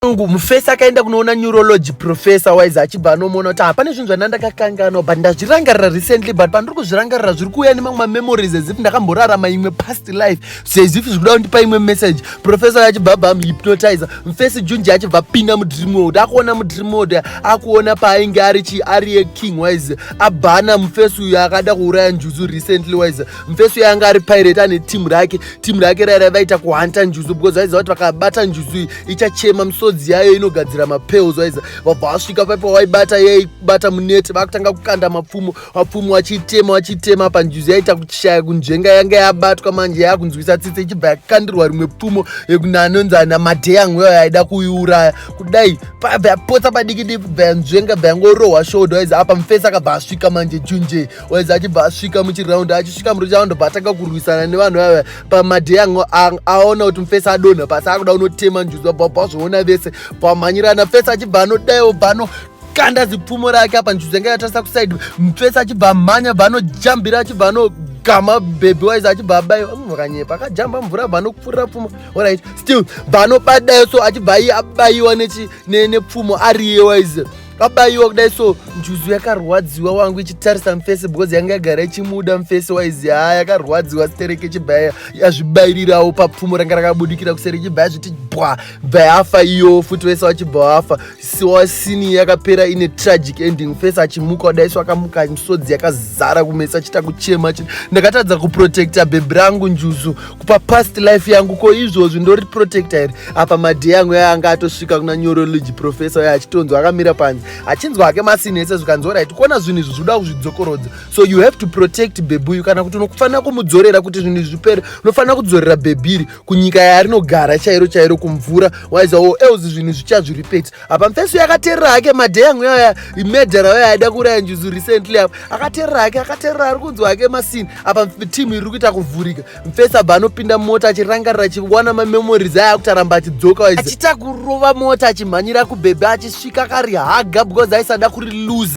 Mungu mufesi akaenda kunoona neurology professor wise achibva anomuona kuti hapane zvinhu zvana ndakakanganwa but ndazvirangarira recently but pandiri kuzvirangarira zviri kuuya nemamwe mamemories as if ndakamborarama imwe past life so as if zvikuda kundipa imwe message professor achibva abva amuhypnotizer mufesi junji achibva apinda mudream world akuona mudream world akuona paainge ari chi ari king wise abhana mufesi uyo akada kuuraya njuzu recently wise mufesi uyo anga ari pirate ane team rake team rake raira vaita kuhanta njuzu because vaiziva kuti vakabata njuzu iyi ichachema misodzi yayo inogadzira mapels waiza vabva wasvika paipa waibata yaibata munete vakutanga kukanda mapfumo mapfumo achitema achitema panjuzi yaita kuchishaya kunzvenga yanga yabatwa manje yakunzwisa tsitse ichibva yakandirwa rimwe pfumo yekunanonzi ana madheyangu yayo yaida kuiuraya kudai pabva yapotsa padiki diki bva yanzvenga bva yangorohwa shodo waiza apa mufesi akabva asvika manje junje waiza achibva asvika muchiraundi achisvika murichaundi bva atanga kurwisana nevanhu vaya pamadhei angu aona kuti mufesi adonha pasi akuda unotema njuzi vabva bva zvoona vese bvamhanyirana fesi achibva anodaiwo bva anokanda zipfumo rake apa njuzi yanga yatarisa kusaidi mufesi achibva amhanya bva anojambira achibva ano gama baby wise achibva abaiwa munhu akanyepa akajamba mvura bva anokupfurira pfumo orit still bva anobadayo so achibva iye abaiwa nepfumo ariye wise kabaiwa kudai so njuzu yakarwadziwa wangu ichitarisa mfesi because yanga yagara ichimuda mfesi waizi haa yakarwadziwa stereke chibhaya yazvibairirawo papfumo ranga rakabudikira kuseri chibhaya zviti bwa bva yafa iyo futi wese wachibva wafa siwa sini yakapera ine tragic ending mfesi achimuka kudai so akamuka misodzi yakazara kumesa achita kuchema ndakatadza kuprotecta bhebhi rangu njuzu kupa past life yangu ko izvozvi ndori protector here apa madhey yangu yaya anga atosvika kuna neurology professor uya achitonzwa akamira panze achinzwa hake masini ese zvikanzi orit kuona zvinhu izvi zvoda kuzvidzokorodza so you have to protect bebuyu kana kuti unofanira kumudzorera kuti zvinhu izvi zvipere unofanira kudzorera bebiri kunyika yarinogara chairo chairo kumvura waizawo oh, else zvinhu zvichazviripeti apa mfeso yakaterera hake madhey yangu yaya imedhara yaya aida kuuraya njuzu recently apa akaterera hake akaterera ari kunzwa hake masini apa timu iri kuita kuvhurika mfeso abva anopinda mota achirangarira achiwana mamemories aya akuti aramba achidzoka achiita kurova mota achimhanyira kubhebhe achisvika akarihaga because aisada kuri lose